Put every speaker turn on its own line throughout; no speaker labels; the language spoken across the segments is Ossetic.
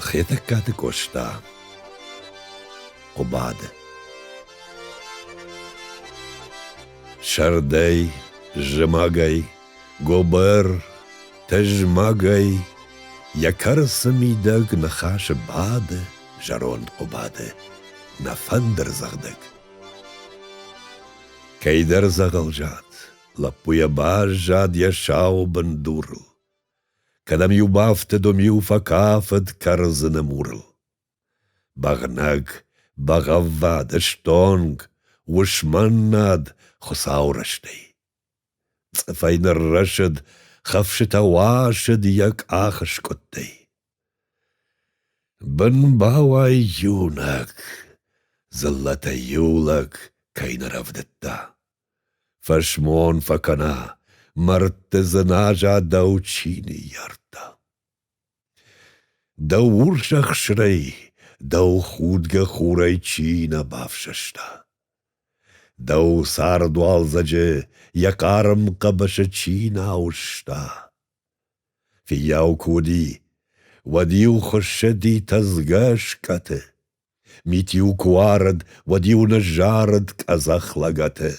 Хетӕгкаты Къоста Хъуыбады Сӕрдӕй, зымӕгӕй, гуыбыр, тызмӕгӕй Йӕ кӕрцы мидӕг ныхасы бады зӕронд Хъуыбады Нӕ фӕндыр зӕгъдӕг. Кӕйдӕр дзӕгъӕл зад, лӕппу йӕ баззад йӕ сау бындурыл. Кӕдӕм-иу бафты Доми-иу фӕкафыд кӕрдзыны мурыл. Бӕгънӕг, бӕгъӕввад, ыстонг, уысмӕн над Хуыцауы рӕстӕй. Цъыфӕй ныррӕсыд, хӕфсытӕ уасыд йӕ къах скъуыдтӕй. Бын бауай иунӕг, дзыллӕтӕй иу лӕг кӕй нӕ рӕвдыдта. Фӕсмон фӕкӕна, мӕрдты дзыназа дӕу чи ныййардта. Дӕу урс ӕхсырӕй, дӕу худгӕ хурӕй чи нӕ бафсӕста. Дӕу цард уалдзӕджы йӕ хъарм хъӕбысы чи нӕ ауызта. Фиййау куы уыди, уӕд-иу хуыссыди тӕдзгӕ скъӕты. Мит-иу куы уарыд, уӕд-иу ныззарыд къӕдзӕх лӕгӕты.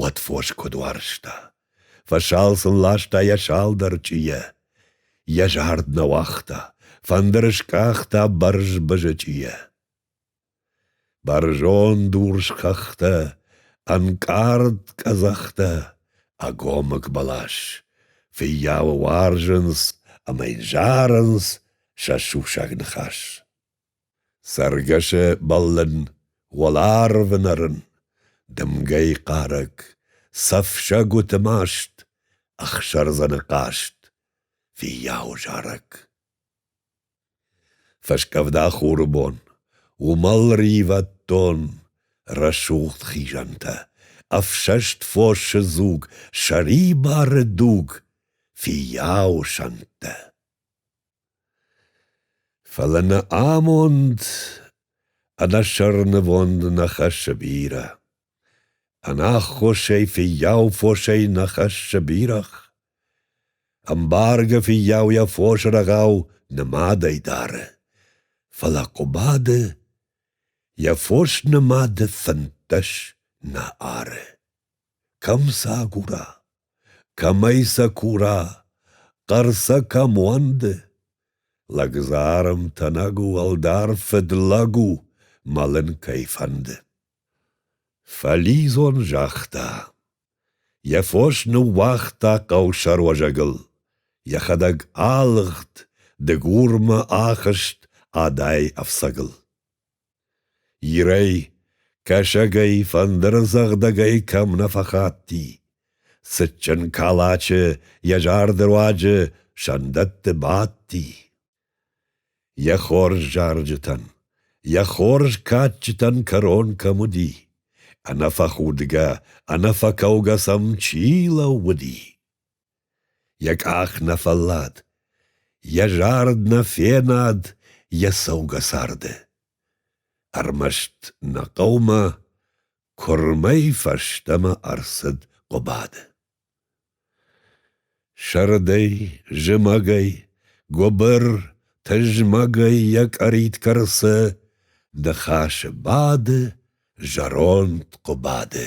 Уӕд фос куыд уарзта! Фӕсал сын ласта йӕ салдӕр чъийӕ. Йӕ зард нӕ уагъта, фӕндыры скъахта бӕрзбызы чъийӕ. Бӕрзонд урс хӕхтӕ, ӕнкъард къӕдзӕхтӕ, ӕгомыг бӕлас. Фыййауы уарзынц ӕмӕ йын зарынц, Сӕсугсаг ныхас. Цӕргӕсы бӕллын, Уӕларвы нӕрын, Дымгӕйы хъарӕг, Цӕф сӕгуыты маст, Ӕхсӕрдзӕны хъаст, Фиййау зарӕг. Фӕскъӕвда хуры бон, Уымӕл ривӕддон, Рӕсугъд хизӕнтӕ, Ӕфсӕст фосы дзуг, Сӕрибары дуг, Фиййау сӕнттӕ. Фӕлӕ нӕ амонд ӕнӕсӕрнывонд нӕ хӕссы бирӕ. Ӕнаххосӕй фыййау фосӕй нӕ хӕссы бирӕгъ. Ӕмбаргӕ фыййау йӕ фосы рӕгъау нымадӕй дары, фӕлӕ Хъуыбады йӕ фос нымады фынддӕс нӕ ары. Кӕм сӕ агура, кӕмӕй сӕ кура, хъӕр сӕ кӕм уӕнды? Лӕгдзарм тӕнӕг у, ӕлдар фыдлӕг у, мӕлын кӕй фӕнды. Фӕлидзон загъта. Йӕ фос ныууагъта хъӕусӕруӕзӕгыл, йӕхӕдӕг алыгъд, дыгурмӕ ахызт адай ӕфцӕгыл. Ирӕй, кӕсагӕй, фӕндырдзӕгъдӕгӕй кӕм нӕ фӕхатти. Цытджын калачы йӕ зарды руаджы сӕндӕтты бадти. Йӕ хорз зарджытӕн, йӕ хорз кадджытӕн кӕрон кӕм уыди, ӕнӕфӕхудгӕ, ӕнӕфӕкӕугӕ сӕм чи лӕууыди. Йӕ къах нӕ фӕллад, йӕ зард нӕ фенад йӕ цӕугӕ царды. Ӕрмӕст нӕ хъӕумӕ куырмӕй фӕстӕмӕ ӕрцыд Хъуыбады. Сӕрдӕй, зымӕгӕй, гуыбыр, тызмӕгӕй йӕ къӕрит кӕрцы, ныхасы бады зӕронд Хъуыбады.